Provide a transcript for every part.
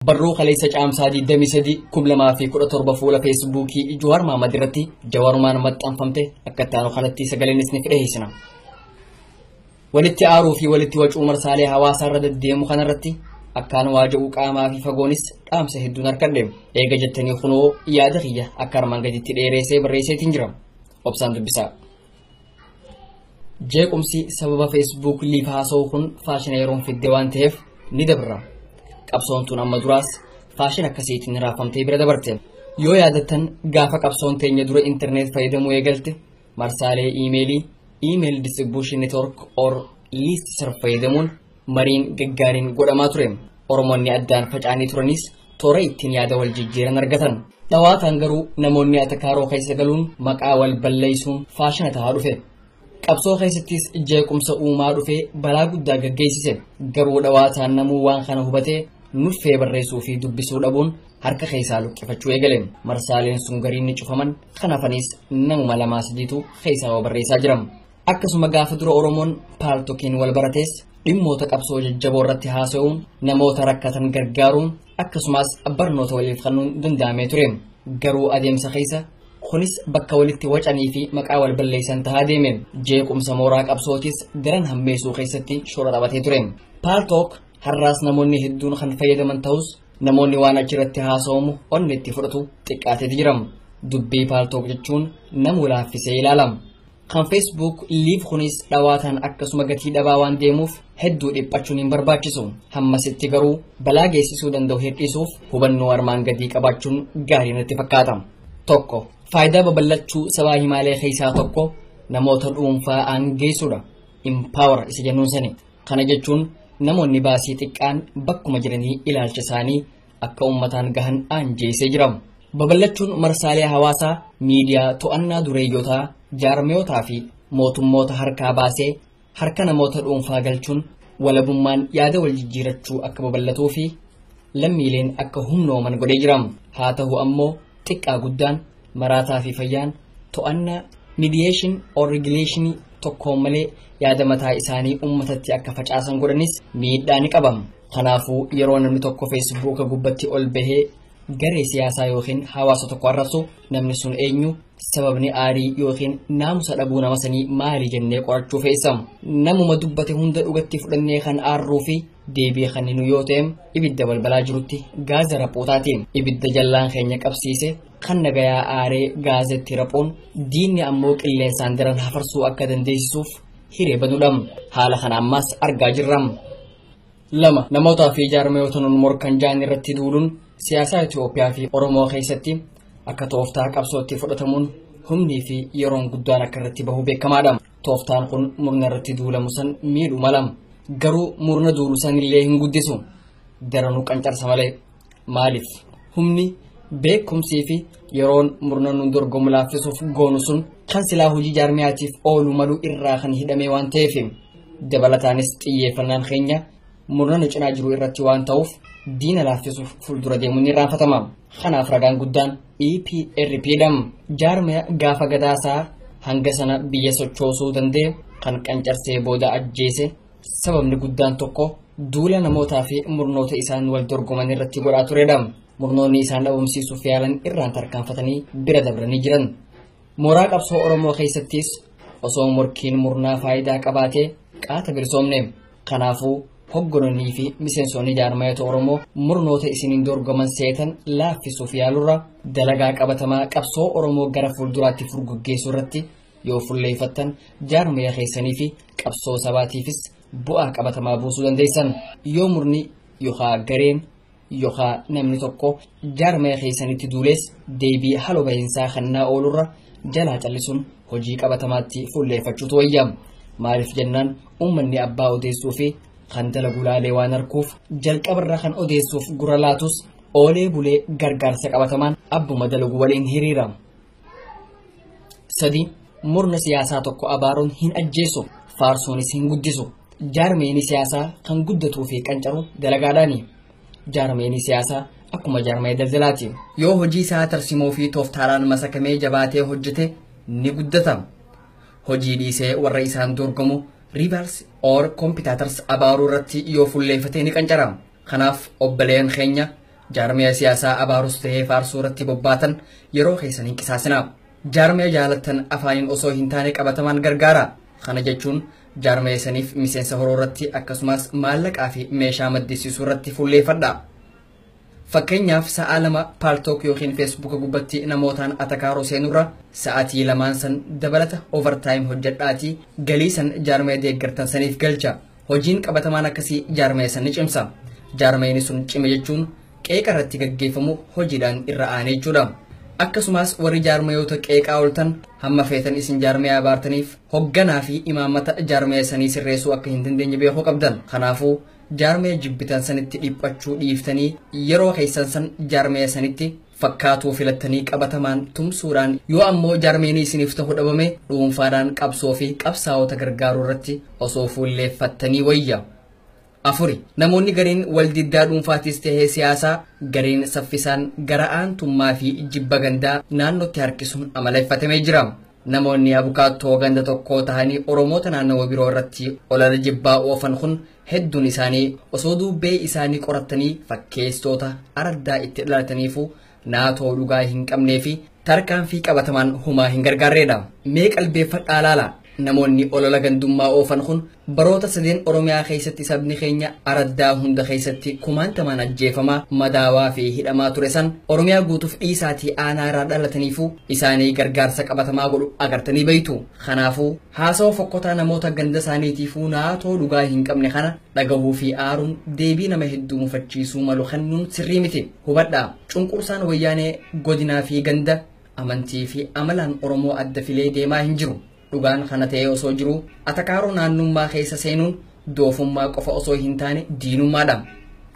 Barruu kaleessa caamsaa 23 2017 fuula feesbuukii Juhaar Maamad irratti jawarumaan maxxanfamte akka itti aanu kanatti sagaleen isiniif dhiheessina. Walitti aaruu fi walitti wacuu marsaalee hawaasaa irra deddeemu kanarratti akkaan waaja'uu qaamaa fi fagoonis dhaamsa hedduun harkadhe. Eega jettanii kunoo yaada kiyya akka armaan gaditti dheereessee barreesseetiin jira. Obsaan dubbisaa. Jeequmsi sababa Facebook liif haasa'uu kun faashina yeroon fidde waan ta'eef ni dabra. Qabsoon tun amma duraas faashina akkasiitiin raafamtee bira dabarte. Yoo yaadattan gaafa qabsoon teenya dura interneet fayyadamuu eegalte marsaalee iimeelii, email distribution network or list serve fayyadamuun Mariin gaggaariin godhamaa ture. Oromoonni addaan faca'anii turanis toora ittiin yaada wal jijjiiran argatan. Dhawaataan garuu namoonni atakaaroo keessa galuun maqaa wal balleessuun faashina tahaa dhufe. Qabsoo keessattis jeequmsa uumaa dhufee balaa guddaa gaggeessise. Garuu dhawaataan namuu waan kana hubatee nuffee barreessuu fi dubbisuu dhabuun harka keessaa luqqifachuu eegale. Marsaaleen sun gariin ni cufaman. Kan hafanis namuma lamaa sadiitu keessaa waa barreessaa jiran. Akkasuma gaafa dura Oromoon paaltokiin wal baratees dhimmoota qabsoo jajjaboo irratti haasa'uun namoota rakkatan gargaaruun akkasumas barnoota waliif kennuun danda'amee ture. Garuu adeemsa keessa kunis bakka walitti wacanii fi maqaa wal balleessan tahaa deeme. Jeequmsa mooraa qabsootis daran hammeessuu keessatti shoora taphatee ture. Paaltook har'aas namoonni hedduun kan fayyadaman ta'us namoonni waan achirratti haasa'amu onni itti fudhatu xiqqaateeti jira. Dubbii paaltook jechuun nama laaffisee ilaalama. Kan Facebook live kunis dhawaataan akkasuma gatii dhabaa waan deemuuf hedduu dhiphachuun hin barbaachisu. Hammasitti garuu balaa geessisuu danda'u hir'isuuf hubannoo armaan gadii qabaachuun gaarii natti fakkaata. Tokko faayidaa babal'achuu sabaa himaalee keessaa tokko namoota dhuunfaa aangeessuudha. Empower isa jennuun sani. Kana jechuun namoonni baasii xiqqaan bakkuma jiranii ilaalcha isaanii akka uummataan gahan aanjeessee jira. Babal'achuun marsaalee hawaasaa miidiyaa to'annaa dureeyyotaa jaarmiyootaa fi mootummoota harkaa baasee harka namoota dhuunfaa galchuun walabummaan yaada wal jijjiirachuu akka babal'atuu fi lammiileen akka humnooman godhee jira. Haa ta'u ammoo xiqqaa guddaan maraataa fi fayyaan to'annaa midiyeeshin or rigileeshinii tokkoon malee yaada mataa isaanii uummatatti akka facaasan godhanis miidhaa ni qaba. Kanaafuu yeroo namni tokko feesbuuka gubbatti ol bahee garee siyaasaa yookiin hawaasa tokko arrabsu namni sun eenyu sababni aarii yookiin naamusa dhabuu nama sanii maali jennee qorachuu feessa. Namuma dubbate hunda dhugatti fudhannee kan aarruu fi deebii kan nu yoo ta'e ibidda balbalaa jirutti gaaza raphuutaati. Ibidda jallaan keenya qabsiise kan nagayaa aaree gaazetti raphuun diinni ammoo qilleensaan daran hafarsuu akka dandeessisuuf hiree banudha. Haala kana ammaas argaa jirra. lama namootaa fi jaarmayoota nun morkan ja'an irratti duuluun siyaasaa Itoophiyaa fi Oromoo keessatti akka tooftaa qabsootti fudhatamuun humnii fi yeroon guddaan akka irratti bahu beekamaadha. Tooftaan kun murna irratti duulamu san miidhu mala. Garuu murna duulu san illee hin guddisu. Daranuu qancarsa malee. Maaliif? Humni, beekumsii fi yeroon murna nuun dorgomu laaffisuuf goonu sun kan silaa hojii jaarmiyaatiif oolu malu irraa kan hidhamee waan ta'eef dabalataanis xiyyeeffannaan keenya murna nu cinaa jiru irratti waan ta'uuf diina laaffisuuf fuuldura deemuun ni raanfatama. Kanaaf ragaan guddaan EPRP dha. Jaarmiya gaafa gadaasaa hanga sana biyya sochoosuu danda'e kan qancarsee booda ajjeese Sababni guddaan tokko duula namootaa fi murnoota isaan wal dorgoman irratti godhaa turedha. Murnoonni isaan dhabamsiisuuf yaalan irraan tarkaanfatanii bira dabranii jiran. Mooraa qabsoo Oromoo keessattis osoo morkiin murnaa faayidaa qabaatee qaata bilisoomne. Kanaafuu hogganonnii fi miseensonni jaarmayota Oromoo murnoota isiniin dorgoman seetan laaffisuuf yaalurra dalagaa qabatamaa qabsoo Oromoo gara fuulduraatti furguggeessuu irratti Yoo fulleeffattan jaarmaya keessanii fi qabsoo sabaatiifis bu'aa qabatamaa buusuu dandeessan. Yoo murni yookaa gareen yookaa namni tokko jaarmaya keessanitti duulees deebii haloo bahinsaa kannaa oolurra jalaa callisuun hojii qabatamaatti fulleeffachuutu wayya. Maaliif jennaan uummanni abbaa odeessuu fi kan dalagu laalee waan arkuuf jalqabarra kan odeessuuf gurra laatus oolee bulee gargaarsa qabatamaan abbuma dalagu waliin hiriira. sadii murna siyaasaa tokko abaaruun hin ajjeesu faarsuunis hin guddisu jaarmeeni siyaasaa kan guddatuu fi qancaru dalagaadhaani jaarmeeni siyaasaa akkuma jaarmee daldalaati yoo hojii isaa tarsimoo fi tooftaadhaan masakamee jabaatee hojjete ni guddata hojii dhiisee warra isaan dorgomu rivals or competitors abaaruu irratti yoo fulleeffatee ni qancara Kanaaf obboleeyyan keenya jaarmiya siyaasaa abaarus tahee faarsuu irratti bobbaatan yeroo keessan hin qisaasinaa. Jaarmiya jaalattan afaaniin osoo hin taane qabatamaan gargaaraa. Kana jechuun jaarmiya saniif miseensa horuu irratti akkasumas maallaqaa fi meeshaa maddisiisuu irratti fulleeffadhaa. Fakkeenyaaf sa'aa lama paaltook yookiin feesbuuka gubbatti namootaan atakaaroo seenurra sa'aatii lamaan san dabalata overtime hojjedhaatii galii san jaarmiya deeggartan saniif galcha. Hojiin qabatamaan akkasii jaarmaya san ni cimsa. Jaarmayni sun cime jechuun qeeqa irratti gaggeeffamu hojiidhaan irra aane jechuudha. Akkasumas warri jaarmayoota qeeqaa ooltan hamma feetan isin jaarmaya abaartaniif hogganaa fi imaammata jaarmaya sanii sirreessuu akka hin dandeenye beekuu qabdan. Kanaafuu jaarmaya jibbitan sanitti dhiphachuu dhiiftanii yeroo keessan san jaarmaya sanitti fakkaatuu filattanii qabatamaan tumsuudhaan yoo ammoo jaarmeenii isiniif ta'u dhabame dhuunfaadhaan qabsoo fi qabsaa'ota gargaaruu irratti osoo fuulleeffattanii wayya. afuri namoonni gariin waldiddaa dhuunfaatis ta'ee siyaasaa gariin saffisaan gara aantummaa fi jibba gandaa naannootti harkisuun amaleeffatamee jira. Namoonni abukaattoo ganda tokkoo tahanii Oromoota naannawa biroo irratti olala jibbaa oofan kun Hedduun isaanii osoo duubbee isaanii qorattanii fakkeesitoota araddaa itti dhalataniifuu naatoo dhugaa hin qabnee fi tarkaanfii qabatamaan humaa hin gargaarreedha. Mee qalbeeffadhaa laala. Namoonni olola gandummaa oofan kun baroota sadeen Oromiyaa keessatti sabni keenya araddaa hunda keessatti kumaantamaan ajjeefamaa, madaawaa fi hidhamaa ture san Oromiyaa guutuuf dhiisaatii aanaa irraa dhalataniifuu isaanii gargaarsa qabatamaa godhu agartanii beektu. Kanaafuu, haasawa fokkotaa namoota ganda isaaniitiifuu naatoo dhugaa hin qabne kana dhagahuu fi aaruun deebii nama hedduu mufachiisuu malu kennuun sirrii miti. Hubadhaa, cunqursaan Wayyaanee godinaa fi ganda, amantii fi amalaan Oromoo adda filee deemaa hin jiru. Dhugaan kana ta'ee osoo jiruu, atakaaroo naannummaa keessa seenuun, doofummaa qofa osoo hin taane diinummaadha.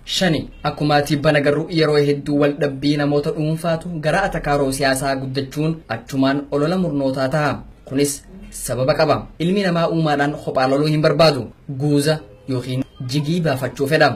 Shani, akkuma tibbana garuu yeroo hedduu wal dhabbii namoota dhuunfaatu gara atakaaroo siyaasaa guddachuun achumaan olola murnootaa taha. Kunis sababa qaba. Ilmi namaa uumaadhaan kophaa loluu hin barbaadu. Guuza yookiin jigii baafachuu fedha.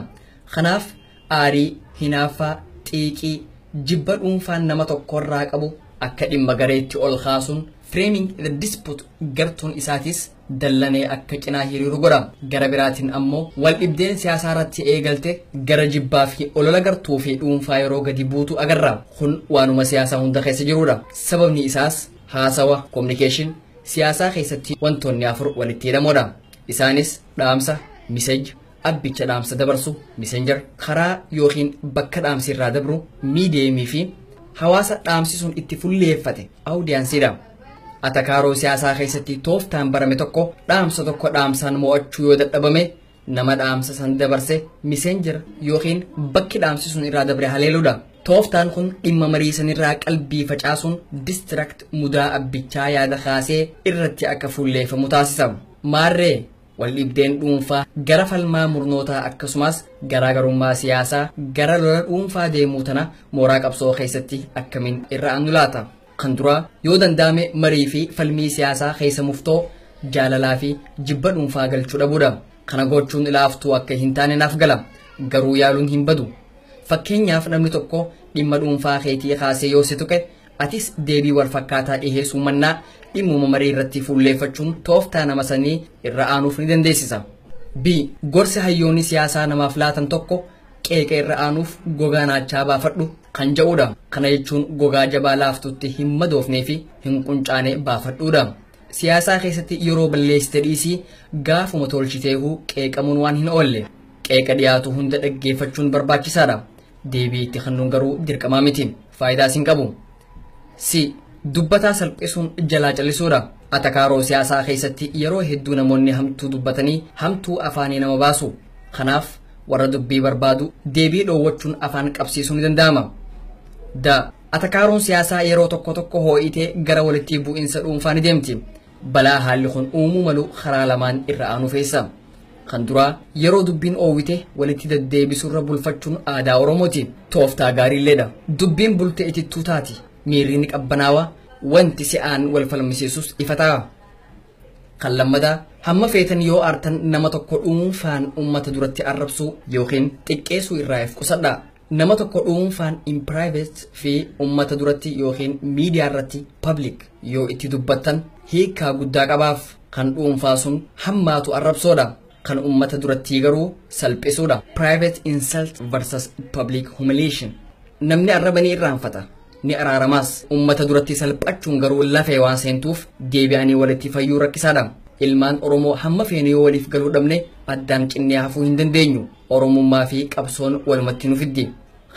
Kanaaf aarii, hinaaffaa, xiiqii, jibba dhuunfaan nama tokkorraa qabu akka dhimma gareetti ol kaasuun framing the dispute gartuun isaatis dallanee akka cinaa hiriiru godha. Gara biraatiin ammoo waldhibdeen siyaasaa irratti eegalte gara jibbaa fi olola gartuu fi dhuunfaa yeroo gadi buutu agarra. Kun waanuma siyaasaa hunda keessa jirudha. Sababni isaas haasawa, communication, siyaasaa keessatti wantoonni afur walitti hidhamoodha. Isaanis dhaamsa, message, Abbicha dhaamsa dabarsu, messenger, karaa ykn bakka dhaamsi irraa dabru, medium, fi hawaasa dhaamsi sun itti fulleeffate, audience, dha. Atakaaroo siyaasaa keessatti tooftaan barame tokko dhaamsa tokko dhaamsaan mo'achuu yoo dadhabame nama dhaamsa san dabarse messenger ykn bakki dhaamsi sun irraa dabre haleeludha. Tooftaan kun dhimma marii sanirraa qalbii facaasuun distract mudaa abbichaa yaada kaasee irratti akka fulleeffamu taasisa. Maarree Waldhibdeen dhuunfaa gara falmaa murnootaa akkasumaas garaa garummaa siyaasaa gara lola dhuunfaa deemuu tana mooraa qabsoo keessatti akkamiin irra aannu laata? Kan duraa yoo danda'ame marii fi falmii siyaasaa keessa muftoo jaalalaa fi jibba dhuunfaa galchuu dhabuudha. Kana gochuun ilaaftuu akka hin taane naaf gala. Garuu yaaluun hin badu. Fakkeenyaaf namni tokko dhimma dhuunfaa keetii kaasee yoo si tuqe Atis deebii wal fakkaataa dhiheessuu mannaa dhimmuma marii irratti fuulleeffachuun tooftaa nama sanii irra aanuuf ni dandeessisa. B. Gorsi hayyoonni siyaasaa namaaf laatan tokko qeeqa irra aanuuf gogaa naachaa baafadhu kan ja'uudha. Kana jechuun gogaa jabaa laaftutti hin madoofnee fi hin quncaane baafadhuudha. Siyaasaa keessatti yeroo balleessite dhiisii gaafuma tolchiteehuu qeeqamuun waan hin oolle. Qeeqa dhiyaatu hunda dhaggeeffachuun barbaachisaadha. Deebii itti kennuun garuu dirqamaa miti. Faayidaas hin qabu. C. Dubbataa salphisuun jalaa callisuudha. Atakaaroo siyaasaa keessatti yeroo hedduu namoonni hamtuu dubbatanii hamtuu afaanii nama baasu. Kanaaf warra dubbii barbaadu deebii dhoowwachuun afaan qabsiisuu ni danda'ama. D. Atakaaroon siyaasaa yeroo tokko tokko hoo'itee gara walitti bu'insa dhuunfaa ni deemti. Balaa haalli kun uumuu malu karaa lamaan irra aanu keessa. Kan duraa yeroo dubbiin oowwite walitti deddeebisurra bulfachuun aadaa Oromooti. Tooftaa gaariilleedha. Dubbiin bultee itittuu taati. Miirri ni qabbanaawaa, wanti si'aan wal falmisiisus ifa ta'a. Kan lammataa hamma feetan yoo aartan nama tokko dhuunfaan uummata duratti arrabsuu yookiin xiqqeessuu irraa if qusadhaa. Nama tokko dhuunfaan, in private, fi ummata duratti ykn miidiyaa irratti, public, yoo itti dubbattan hiikkaa guddaa qabaaf. Kan dhuunfaa sun hammaatu arrabsoodha. Kan ummata durattii garuu salphisuudha. Private insult versus public humiliation. Namni arraba ni irraanfata, ni araaramaas. Ummata duratti salphachuun garuu lafee waan seentuuf deebi'anii walitti fayyuu rakkisaadha. Ilmaan Oromoo hamma feene yoo waliif galuu dhabne addaan cinnee hafuu hin dandeenyu. Oromummaa fi qabsoon walumatti nu fiddi.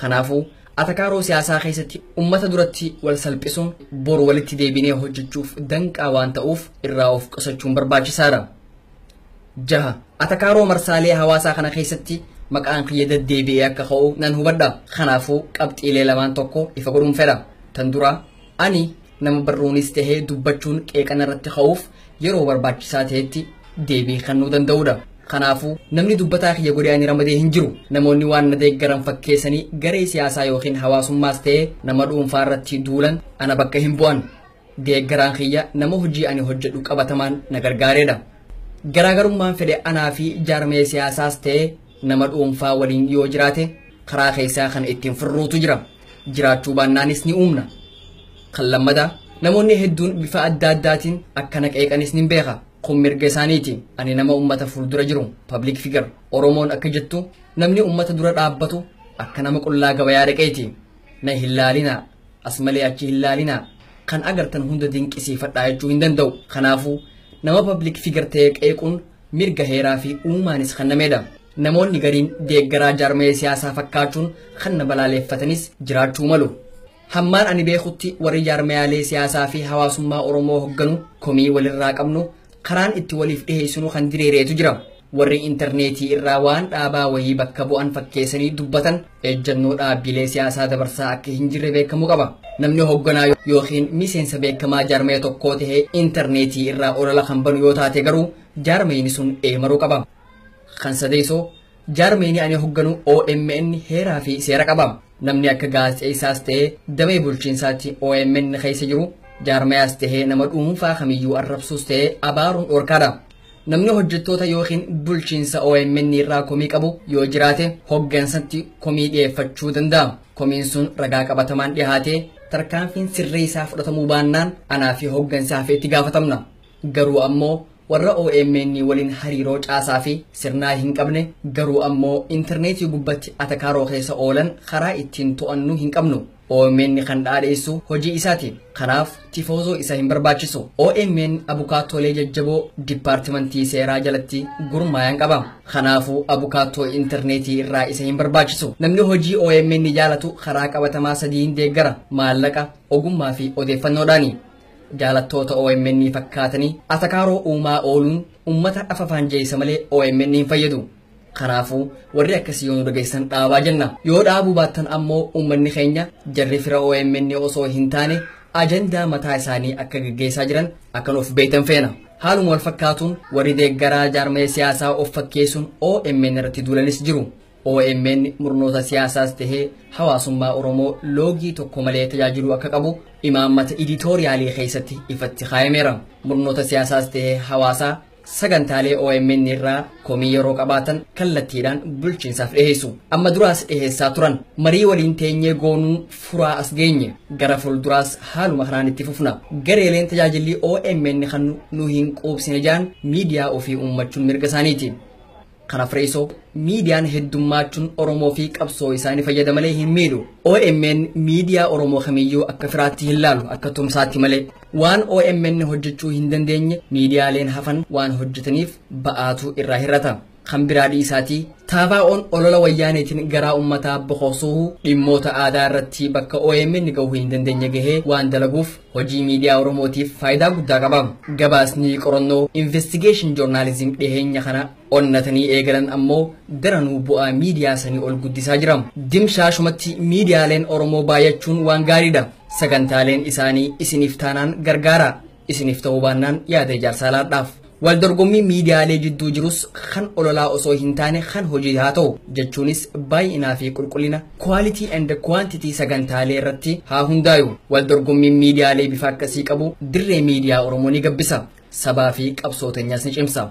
Kanaafuu, atakaaroo siyaasaa keessatti ummata duratti wal salphisuun bor walitti deebinee hojjechuuf danqaa waan ta'uuf irraa of qusachuun barbaachisaadha. Jaha, atakaaroo marsaalee hawaasaa kana keessatti maqaan kiyya deddeebi'ee akka ka'u nan hubadha. Kanaafuu, qabxiilee lamaan tokko ifa godhuun fedha. Tan duraa, ani Nama barruunis tahee dubbachuun qeeqa narratti ka'uuf yeroo barbaachisaa tahetti deebii kennuu danda'uudha. Kanaafuu namni dubbataa kiyya godhee ani ramadee hin jiru. Namoonni waan na deeggaran fakkeessanii garee siyaasaa yookiin hawaasummaas ta'ee nama dhuunfaa irratti duulan ana bakka hin bu'an. Deeggaraan kiyya nama hojii ani hojjedhu qabatamaan na gargaareedha. Garaagarummaan fedhe anaa fi jaarmaya siyaasaas ta'ee Nama dhuunfaa waliin yoo jiraate karaa keessaa kan ittiin furruutu jira. Jiraachuu baannaanis ni uumna. Kan lammataa namoonni hedduun bifa adda addaatiin akkana qeeqanis nin beeka. Kun mirga isaaniiti. Ani nama uummata fuuldura jiru, public figure. Oromoon akka jettu namni uummata dura dhaabbatu akka nama qullaa gabayaa dhaqeeti. Na hin laalinaa, as malee achi hin laalinaa. Kan agartan hunda dinqisiifadhaa jechuu hin danda'u. Kanaafuu nama public figure ta'ee qeequun mirga heeraa fi uumaanis kennamedha. Namoonni gariin deeggaraa jaarmaya siyaasaa fakkaachuun kan na balaaleeffatanis jiraachuu malu. Hammaan ani beekutti warri jaarmayaalee siyaasaa fi hawaasummaa Oromoo hogganu komii walirraa qabnu karaan itti waliif dhiheessinu kan diriireetu jira. Warri interneetii irraa waan dhaabaa wayii bakka bu'an fakkeessanii dubbatan ejjannoo dhaabbiilee siyaasaa dabarsaa akka hin jirre beekamuu qaba. Namni hoogganaa yookiin miseensa beekamaa jaarmaya tokkoo ta'ee intarneetii irraa olola kan banu yoo taate garuu jaarmayni sun eemaruu qaba. Kan sadeessoo jaarmayni ani hoogganu OMN heeraa fi seera qaba. Namni akka gaazexeessaas ta'ee damee bulchiinsaatti OMN keessa jiru jaarmayaas ta'ee nama dhuunfaa kamiyyuu arrabsuus ta'ee abaaruun dhorkaadha. Namni hojjettoota yookiin bulchiinsa omn irraa komii qabu yoo jiraate hoggansatti komii dhiyeeffachuu danda'a. Komiin sun ragaa qabatamaan dhihaatee tarkaanfiin sirrii isaa fudhatamuu baannaan anaa fi hoggansi hafe itti gaafatamna. Garuu ammoo warra omn waliin hariiroo caasaa fi sirnaa hin qabne garuu ammoo interneetii gubbatti atakaaroo keessa oolan karaa ittiin to'annu hin qabnu. OMN kan dhaadheessu hojii isaati. Kanaaf tifoozoo isa hin barbaachisu. OMN abukaattoolee jajjaboo dipaartimantii seeraa jalatti gurmaayan qaba. Kanaafuu abukaattoo intarneetii irraa isa hin barbaachisu. Namni hojii OMN jaalatu karaa qabatamaa sadiin deeggara. Maallaqa, ogummaa fi odeeffannoodhaani. Jaalattoota OMN fakkaatanii atakaaroo uumaa ooluun ummata afafaanjeessa malee OMN hin fayyadu. Kanaafuu warri akkasii yoo nu dhageessan dhaabaa jenna. Yoo dhaabuu baattan ammoo uummanni keenya jarri fira omn osoo hin taane ajandaa mataa isaanii akka gaggeessaa jiran akka nuuf beektan feena. Haaluma wal fakkaatuun warri deeggaraa jaarmaya siyaasaa of fakkeessuun OMN irratti duulanis jiru. OMN murnoota siyaasaas tahee hawaasummaa Oromoo loogii tokko malee tajaajiluu akka qabu imaammata iditooriyaalii keessatti ifatti kaayameera. Murnoota siyaasaas tahee hawaasaa Sagantaalee OMN irraa komii yeroo qabaatan kallattiidhaan bulchiinsaaf dhiheessu. Amma duraas dhiheessaa turan. Marii waliin teenyee goonuu furaa as geenye. Gara fuulduraas haaluma kanaan itti fufna. Gareeleen tajaajilli OMN kan nu hin quubsine jaan miidiyaa ofii uummachuun mirga isaaniiti. Kana Fireesoo, miidiyaan heddummaachuun Oromoo fi qabsoo isaa ni fayyada malee hin miidhu. OMN miidiyaa Oromoo kamiyyuu akka firaatti hin laalu, akka tumsaatti malee. Waan OMN hojjechuu hin dandeenye miidiyaaleen hafan waan hojjetaniif ba'aatu irraa hir'ata. Kan biraa dhiisaatii taabaa'oon olola wayyaaneetiin garaa ummataa boqosuuhu dhimmoota aadaa irratti bakka OMN gahuu hin dandeenye gahee waan dalaguuf Hojii miidiyaa Oromootiif faayidaa guddaa qaba. Gabaasni qorannoo investigation journalism dhiheenya kana onnatanii eegalan ammoo daranuu bu'aa miidiyaa sanii ol guddisaa jira. Dimshaashumatti miidiyaaleen Oromoo baay'achuun waan gaariidha. Sagantaaleen isaanii isiniif taanaan gargaara. Isiniif ta'uu baannaan yaada ijaarsaa laadhaaf. Waldorgommiin miidiyaalee jidduu jirus kan ololaa osoo hin taane kan hojii haa ta'u. Jechuunis baay'inaa fi qulqullina, quality and quantity, sagantaalee irratti haa hundaayu. Waldorgommiin miidiyaalee bifa akkasii qabu dirree miidiyaa Oromoo ni gabbisa. Sabaa fi qabsoo teenyas ni cimsa.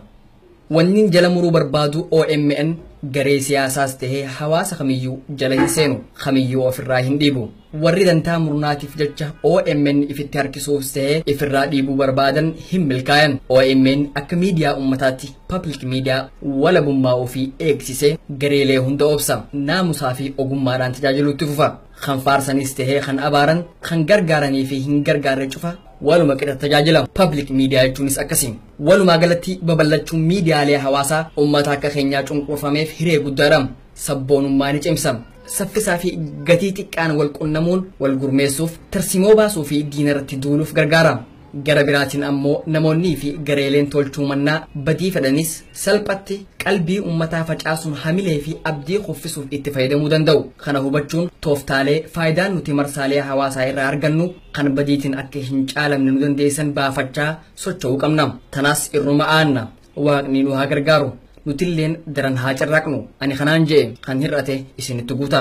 Wannin jala muruu barbaadu omn garee siyaasaas tahee hawaasa kamiyyuu jala hin seenu. Kamiyyuu ofirraa hin dhiibu. Warri dantaa murnaatiif jecha omn ifitti harkisuufs ta'e ifirraa dhiibuu barbaadan hin milkaayan. Omn akka miidiyaa ummataatti, public media, walabummaa ofii eegsisee gareelee hunda obsa. Naamusaa fi ogummaadhaan tajaajiluu itti fufa. Kan faarsanis ta'ee kan abaaran, kan gargaaranii fi hin gargaarre cufa waluma qixa tajaajila. Public media jechuunis akkasi. Walumaa galatti babal'achuun miidiyaalee hawaasaa ummata akka keenyaa cunqurfameef hiree guddaadha. sabboonummaa ni cimsa. Saffisaa fi gatii xiqqaan wal qunnamuun wal gurmeessuuf, tarsimoo baasuu fi diinarratti duuluuf gargaara. Gara biraatiin ammoo namoonnii fi gareeleen tolchuu mannaa badii fedhanis salphatti qalbii ummataa facaasuun hamilee fi abdii kuffisuuf itti fayyadamuu danda'u. Kana hubachuun tooftaalee faayidaan nuti marsaalee hawaasaa irraa argannu kan badiitiin akka hin caalamne nu dandeessisan baafachaa socho'uu qabna. Tanaas irruma aanna. Waaqni nu haa gargaaru. Nutilleen daran haa carraaqnu. Ani kanaan je'e, kan hir'ate isinitti guuta.